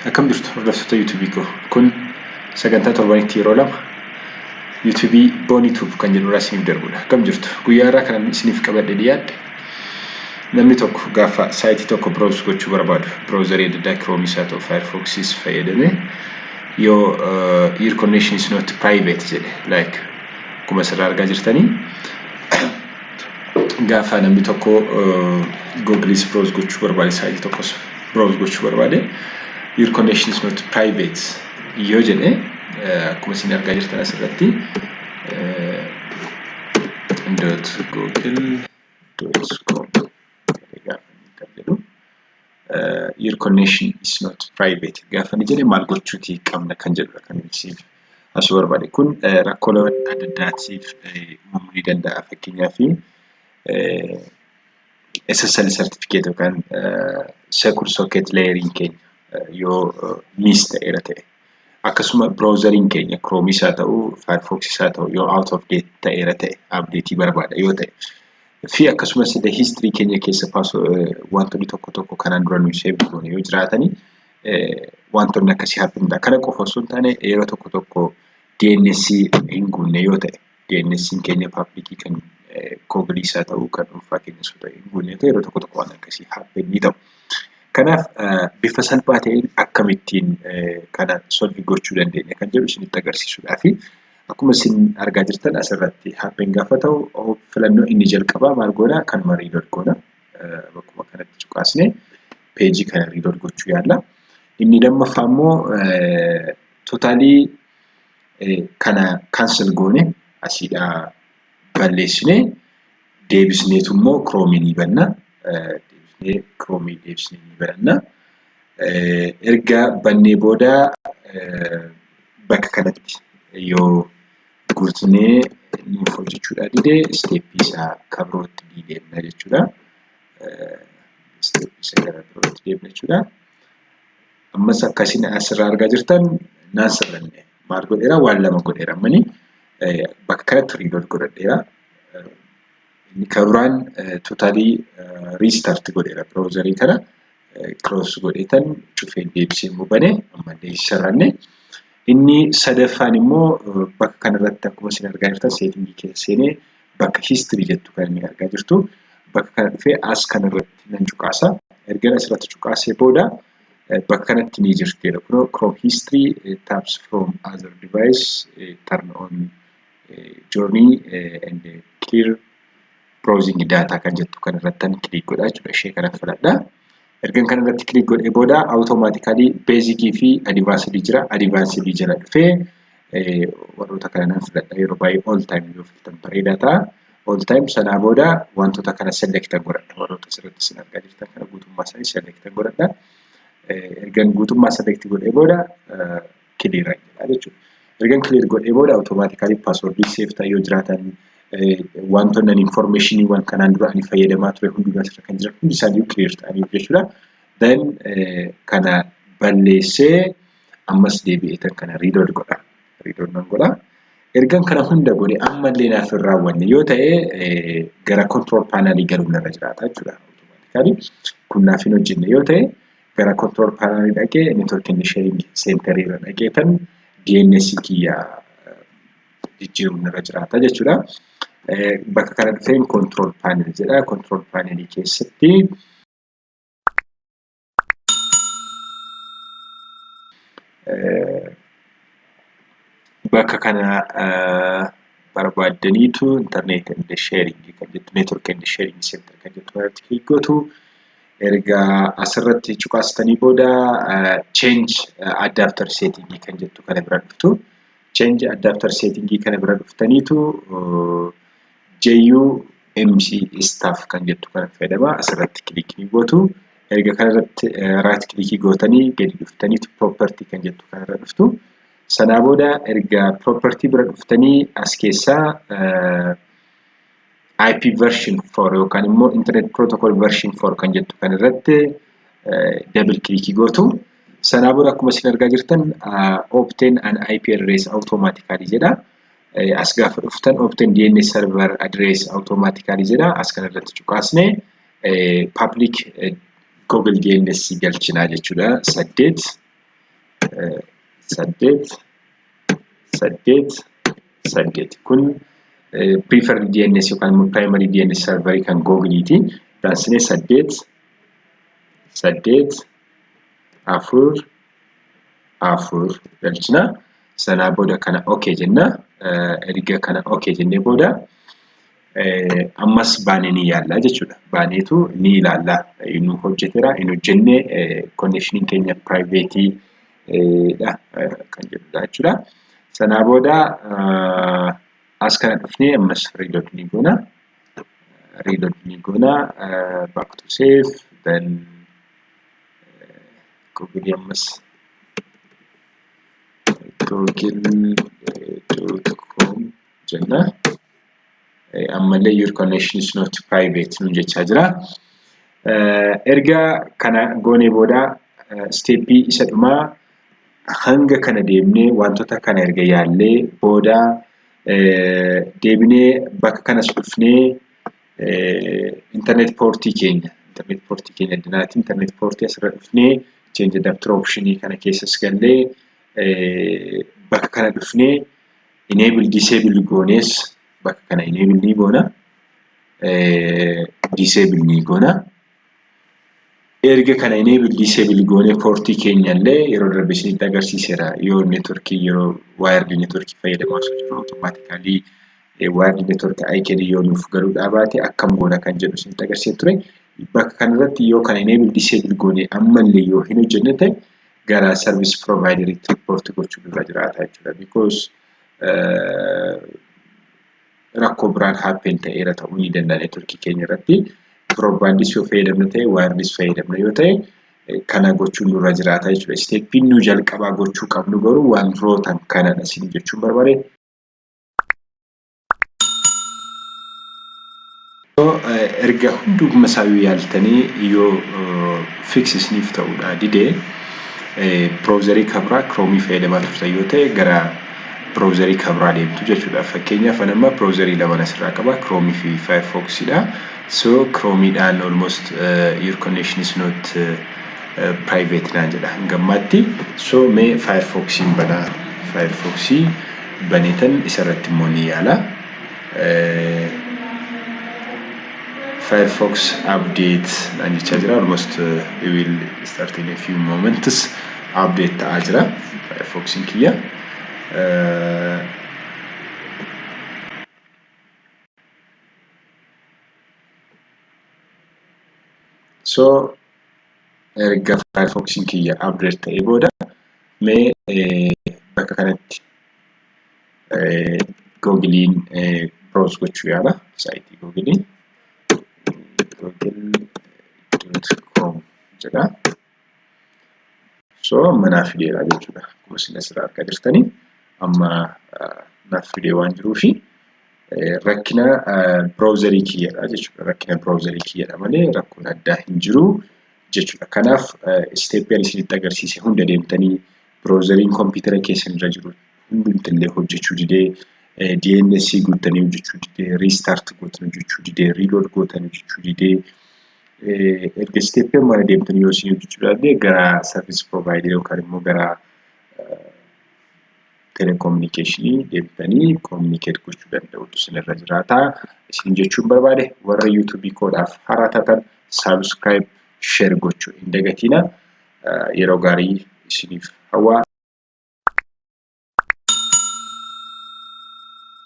Akkam jirtu hordoftoota YouTube koo kun sagantaa torbanitti yeroo lama YouTube Bonitube kan jedhu irraa isiniif darbudha. Akkam jirtu guyyaa irraa kan isiniif qabadhe dhiyaadhe namni tokko gaafa saayitii tokko browse gochuu barbaadu browserii adda addaa Chrome isaa ta'u Firefoxis fayyadamee yoo your connection is not private jedhe like akkuma asirraa argaa jirtanii gaafa namni tokko googiliis browse gochuu barbaade saayilii tokkos browse gochuu barbaade your connection is not private yoo jedhe akkuma isin argaa jirtan asirratti dot google dot com your connection is not private gaafa ni jedhe maal gochuuti qabna kan jedhudha kan ibsiif asuu barbaade kun rakkoolee adda addaatiif uumamuu ni danda'a fakkeenyaaf SSL certificate yookaan secure socket layering keenya yoo miss ta'eera ta'e akkasuma browseriin keenya kiroomis haa ta'u firefoxis haa ta'u yoo out of date ta'eera ta'e updateii barbaada yoo ta'e fi akkasumas illee history keenya keessa wantoonni tokko tokko kanaan dura nuyi save goone yoo jiraatanii wantoonni akkasii hapinidha kana qofa osoo hin taane yeroo tokko tokko DNS hin guunne yoo ta'e DNS'n keenya paablikii kan koobrii isaa ta'uu kan dhuunfaa keenya osoo ta'e guunnee ta'e yeroo tokko tokko waan akkasii haapeen ni ta'u. Kanaaf bifa salphaa ta'een akkamittiin kana solvi gochuu dandeenya kan jedhu isinitti agarsiisuudhaa fi akkuma isin argaa jirtan asirratti haapeen gaafa ta'u filannoo inni jalqabaa maal goona kanuma riilood goona bakkuma kanatti cuqaasne peejii kana riilood gochuu yaalla. Inni lammaffaa immoo tootaalii kana cancel goone asiidhaa balleessine deebisneetu immoo kiroomiin ni banna deebisnee kiroomii deebisnee ni bananna erga bannee booda bakka kanatti yoo guutnee nuuf hojjechuudhaa dide isteeppii isaa kan birootti ni deemna jechuudha isteeppii isa gara birootti deemna jechuudha. Ammas akka isin asirraa argaa jirtan naan sirranne maal godheera waan lama godheera ammani bakka kanatti riilood godhadheera. Inni kan biraan totaalii riistaarti godheera biroozarii kana kiroos godheetan cufeen deebisee immoo bane ammallee sirranne. Inni sadaffaan immoo bakka kanarratti akkuma isin argaa jirtan seetingii keessa seenee bakka history jettu kan inni argaa jirtu bakka kana dhufee as kana irratti nan cuqaasa ergan asirratti cuqaasee booda bakka kanatti ni jirti jedha kunoo chrome history tabs from other device turn on journey and clear browsing data kan jettu kan irrattan click godha jechuudha ishee kana filadha ergan kan irratti click godhee booda automatically basic fi advanced jira advanced jala dhufee warroota kana nan filadha yeroo baay'ee all time yoo filatan bareedaa ta'a all time sanaa booda wantoota kana select godhadha warroota asirratti isin argaa jirtan kana guutummaa isaanii select godhadha ergan guutummaa select godhee booda clear jedha jechuudha. Ergan clear godhee booda automatically password save ta'e yoo jiraatan wantoonni ani information waan kanaan dura ani fayyadamaa ture hundumaa asirra kan jiran hundi isaanii clear ta'anii jechuudha. Then kana balleessee ammas deebi'ee tan kana reload godha. Reload nan godha. Ergan kana hunda godhe ammallee naaf hin raawwanne yoo ta'e gara control panel galuun irra jiraata jechuudha. Automatically kun naaf hin hojjenne yoo ta'e gara control panel dhaqee network and sharing center irra dhaqee tan DNS kiyya jijjiiruun irra jiraata jechuudha. Bakka kana dhufeen control panel jedha. Control panel keessatti bakka kana barbaaddaniitu internet and sharing kan jettu network and sharing center kan jettu irratti click gootu. Erga asirratti cuqaastanii booda change adapter setting kan jettu kana bira dhuftu. Change adapter setting kana bira dhuftaniitu JUMC staff kan jettu kana fayyadama asirratti kilikii gootu. Erga kanarratti right kilikii gootanii gadi dhuftaniitu property kan jettu kanarra dhuftu. Sanaa booda erga property bira dhuftanii as keessaa IP version 4 yookaan immoo internet protocol version 4 kan jettu kan irratti double click gootu. Sanaa booda akkuma isin argaa jirtan obtain an IP address automatically jedha. As gaafa dhuftan obtain DNS server address automatically jedha. As kana irratti cuqaasne public Google DNS galchinaa jechuudha. Saddeet saddeet saddeet saddeet kun prefer DNS yookaan immoo primary DNS server kan googiliiti daansinee saddeet saddeet afur afur galchina sanaa booda kana ok jenna erga kana ok jennee booda ammas baanee ni yaalla jechuudha baaneetu ni ilaalla nu hojjetera hin hojjenne connection keenya privateii dha kan jedhudha jechuudha. Sanaa booda as kana dhufnee ammas reload ni goona. Reload ni goona. Back to save. Then Google ammas google.com jenna. ammallee your connection is not private nu jechaa jira. Erga kana goonee booda steeppii isa dhumaa hanga kana deemnee wantoota kana erga yaallee booda deebinee bakka kanas dhufnee internet portii keenya internet portii keenya addanaati internet portii asirra dhufnee change adapter option kana keessas gallee bakka kana dhufnee enable disable goonees bakka kana enable ni goona disable ni goona erga kana enable disable goonee portii keenya illee yeroo darbe isinitti agarsiiseera yoo networkii yeroo wired networkii fayyadamaa osoo jiru automatically wired network IKD yoo nuuf galuu dhaabaate akkam goona kan jedhu isinitti agarsiisee ture bakka kanarratti yoo kana enable disable goonee ammallee yoo hin hojjenne ta'e gara service provider itti report gochuu irra jiraata jechuudha because rakkoo biraan happen ta'eera ta'uu ni danda'a network keenya irratti broadband yoo fayyadamna ta'e wireless fayyadamna yoo ta'e kana gochuun nurra jiraata jechuudha steppiin nu jalqabaa gochuu qabnu garuu wantoota kanadha isin jechuun barbaade erga hunduma isaayyuu yaaltanii yoo fix isiniif ta'uudha didee browserii kabraa kiroomii fayyadamaa turtan yoo ta'e gara browserii kabraa deemtu jechuudha fakkeenyaaf an amma browserii lamaan asirraa qaba kiroomii fi firefox dha so kiroomiidhaan almost your connection is not private naan jedha hangammaatti so mee firefoxiin banaa firefoxii banetan isa irratti immoo ni yaala firefox update naan jechaa jira almost it will start in a few moments update ta'aa jira firefoxin kiyya so erga firefoxin kiyya update ta'ee booda Mee bakka kanatti googiliin browse gochuu yaala saayitii googilii google.com jedha. So manaaf fideera jechuudha. Akkuma isin asirraa argaa jirtanii amma naaf fidee waan jiruu fi rakkina browserii kiyyadha jechuudha. Rakkina browserii kiyyadha malee rakkoon addaa hin jiru. jechuudha. Kanaaf isteeppii ani isinitti agarsiise hunda deemtanii biroozariin kompiitara keessan irra jiru hundumti illee hojjechuu didee DNS guuttanii hojjechuu didee riistaart gootan hojjechuu didee riilood gootan hojjechuu didee erga isteeppii amma deemtanii yoo isin hojjechuu didee gara sarviis piroovaayidii yookaan immoo gara telekominikeeshinii deebitanii kominikeet gochuu danda'utu isinirra jiraata. Isin jechuun barbaade warra yuutuubii koodhaaf haaraa taatan saabskraayib sheer gochuu hin dagatiina. Yeroo gaarii isiniif hawwa.